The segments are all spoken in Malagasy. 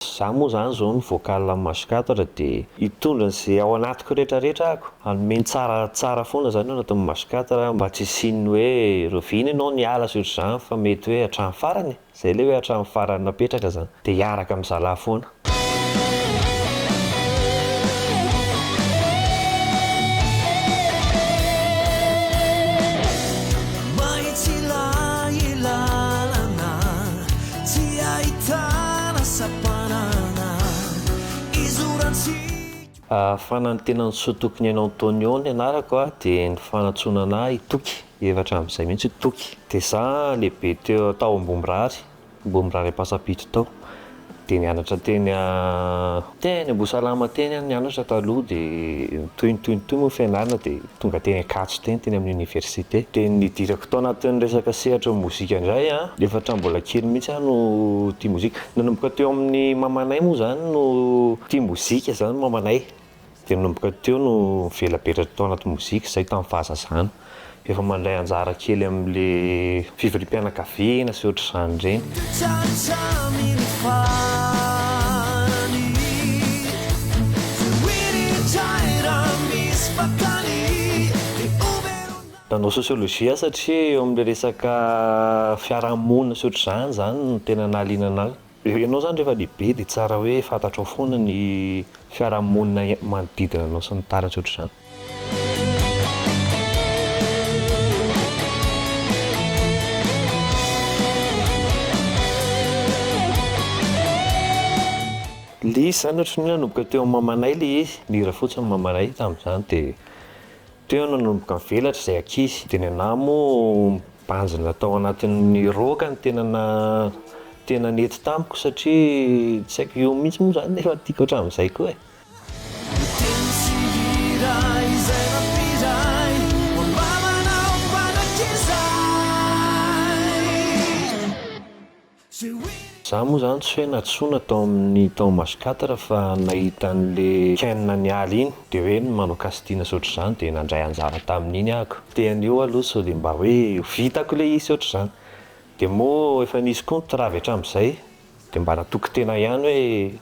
Za moa zany zao ny vocal am maso katatra de hitondra ze ao anatiko retra retra ako, hanome ny tsara tsara foana zany ao anatin'ny maso katatra mba tsy hisian'ny hoe rovina enao ny ala sy otrzany fa mety hoe hatrany farany e! zay le hoe hatrany farany napetraka zany de hiaraka am zalah foana. Tsy ahitana sampanana izorantsika. Ahafahana ny tena ny soa tokony hainao Antonio ny anarako a dia ny fanatsoana ana i Toky efa hatramin'izay mihitsy i Toky dia za lehibe teo tao Ambohimirary Ambohimirary Ampasampito tao dia nianatra teny a teny Ambohisalama teny aho nianatra taloha dia toy ny toy ny toy moa ny fianarana dia Tonga teny Ankatso teny, teny amin'ny oniversite. Dia nidirako tao anatin'ny resaka sehatry ny mozika indray an! Efa hatramin'ny mbola kely mihitsy aho no tia mozika. Nanomboka teo amin'ny mamanay moa izany no tia mozika izany mamanay. Dia nanomboka teo no nivelabelatra tao anaty mozika izahay tamin'ny fahazazana. Efa mandray anjara kely amin'ilay Fivoriam-pianakaviana sy ohatr'izany ireny. Nanao sociologie aho satria eo amin'ilay resaka fiarahamonina sy ohatr'izany izany no tena nahaliana an'ahy. Rehefa ianao izany rehefa lehibe dia tsara hoe fantatrao foana ny fiarahamonina manodidina anao sy ny taratra ohatr'izany. Ilay izy izany ohatrany hoe nanomboka teo amin'ny mamanay ilay izy, nihira fotsiny ny mamanay tamin'izany dia. Teo no nanomboka nivelatra izay ankizy. Dia ny anah moa mibanjina tao anatin'ny roaka no tena na tena nety tamiko satria tsy haiko io mihitsy moa izany efa tiako hatramin'izay koa e! Za moa zany tsy hoe nantsoina tao amin'ny tao Maso quatre fa nahita an'le Ken nialy iny de hoe ny manao casting sy otr'izany de nandray anjara tamin'iny ako. Teny eo aloha sao de mba hoe vitako le izy sy otr'izany. De moa efa nisy koa ny travy hatram'izay de mba natoky tena ihany hoe.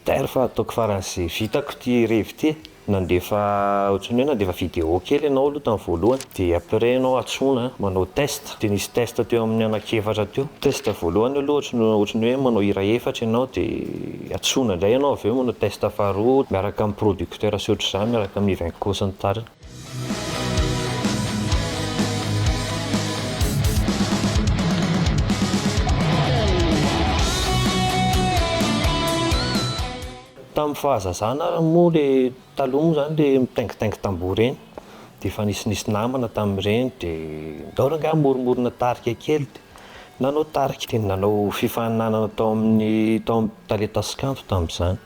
D'ailleurs fa ataoko faran'izay vitako ity revy ity e! Nandefa ohatran'ny hoe nandefa vidéo kely ianao aloha tamin'ny voalohany dia après ianao antsoina manao test dia nisy test teo amin'ny anankiefatra teo. Test voalohany aloha ohatran'ny ohatran'ny hoe manao hira efatra ianao dia antsoina indray ianao avy eo manao test faharoa miaraka amin'ny producteur sy ohatr'izany miaraka amin'i Ivenco sy ny tariny. Tamin'ny fahazazana ary moa le taloha moa zany le mitaingitaingy tamboho ireny dia efa nisy nisy namana tamin'ireny dia ndao r'angaha hamoromorona tarika kely dia nanao tarika dia nanao fifaninanana tao amin'ny tao amin'ny tale tasikanto tamin'izany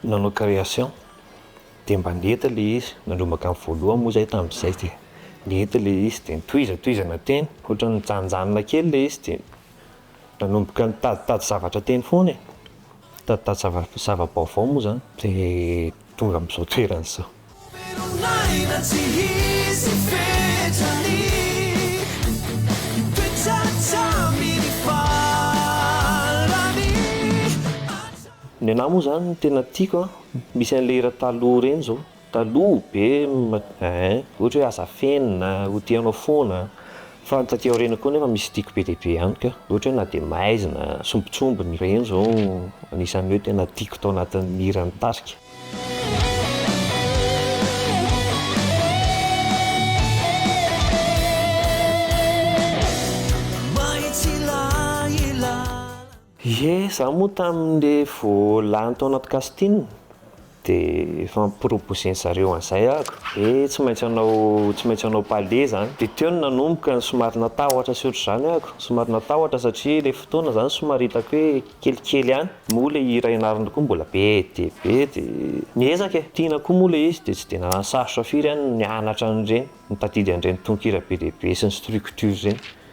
nanao création dia mba nety ilay izy, nanomboka ny voalohany moa izahay tamin'izay dia nety ilay izy dia nitohizatohizana teny, ohatran'ny nijanonjanona kely ilay izy dia nanomboka nitaditady zavatra teny foana e, nitaditady zava- zava-baovao moa izany dia tonga amin'izao toerana izao. Velon'aina tsy hisy fetrany Mipetra hatramin'ny farany Ny anah moa izany no tena tiako an. Misy an'le hira taloha ireny izao, taloha be ein, ohatra hoe aza afenina, ho tianao foana, fa ny taty aoriana koa nefa mystique be dia be ihany ka, ohatra hoe na dia maizina, sombintsombiny, ireny izao anisan'ny hoe tena tiako tao anatin'ny hiran'ny tarika. Ie za moa tamin le vo lany tao anaty casting de efa am proposer ny zareo anzay ahako hoe tsy maintsy hanao tsy maintsy hanao palais zany de teo no nanomboka ny somary natahotra sy otrzany ahako somary natahotra satria le fotoana zany somary hitako hoe kelikely ihany moa le hira ianarana koa mbola be dia be de niezaka e tiana koa moa le izy de tsy de nanasarotra firy ihany ny nianatra an'ireny nitadidy an'ireny tononkira be dia be sy ny structure ireny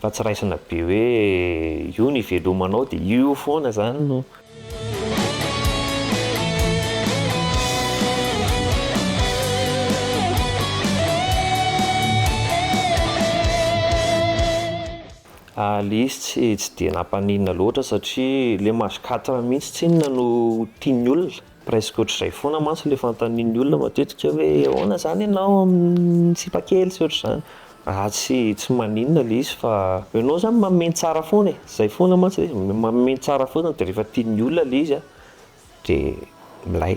fa tsy raisina be hoe io no ivelomanao dia io foana izany no Alice tsy tsy dia nampaninona loatra satria ilay mahazo quatre mihitsy tsy inona no tian'ny olona. Presque ohatr'izay foana mantsy ilay fanontanian'ny olona matetika hoe ahoana izany ianao amin'ny sipakely sy ohatr'izany. Raha tsy tsy maninona ilay izy fa ianao izany mameno tsara foana e, izay foana mantsy ilay izy, mameno tsara foana dia rehefa tian'ny olona ilay izy dia milay.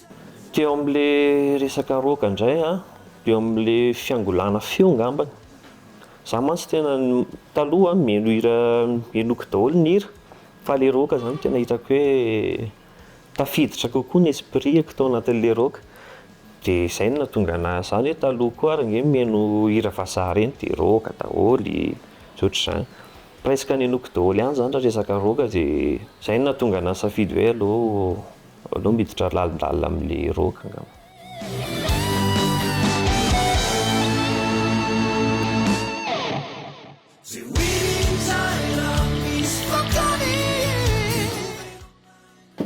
Teo amin'ilay resaka rock indray an, teo amin'ilay fiangolana feo ngambany, za mantsy tena taloha mihaino hira henoiko daholo ny hira fa ilay rock zany tena hitako hoe tafiditra kokoa ny esprit-ko tao anatin'ilay rock, de zay no nahatonga anah zany hoe taloha koa ary nge mihaino hira vazaha ireny de rock daholo sy ohatr'izany, presque nenoiko daholo ihany zany raha resaka rock de zay no nahatonga anah nisafidy hoe aleo Aleo miditra lalindalina amle rock angamba.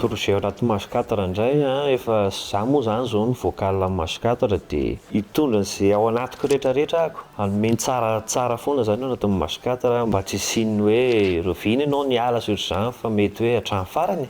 Projet ao anaty Maj quatre indray an, efa za moa zany zao ny vocal am Maj quatre de hitondra an'ze ao anatiko rehetra rehetra ahako, hanome ny tsara tsara foana zany ao anatin'ny Maj quatre mba tsy hisian'ny hoe revy ny anao niala sur zany fa mety hoe hatrany farany e!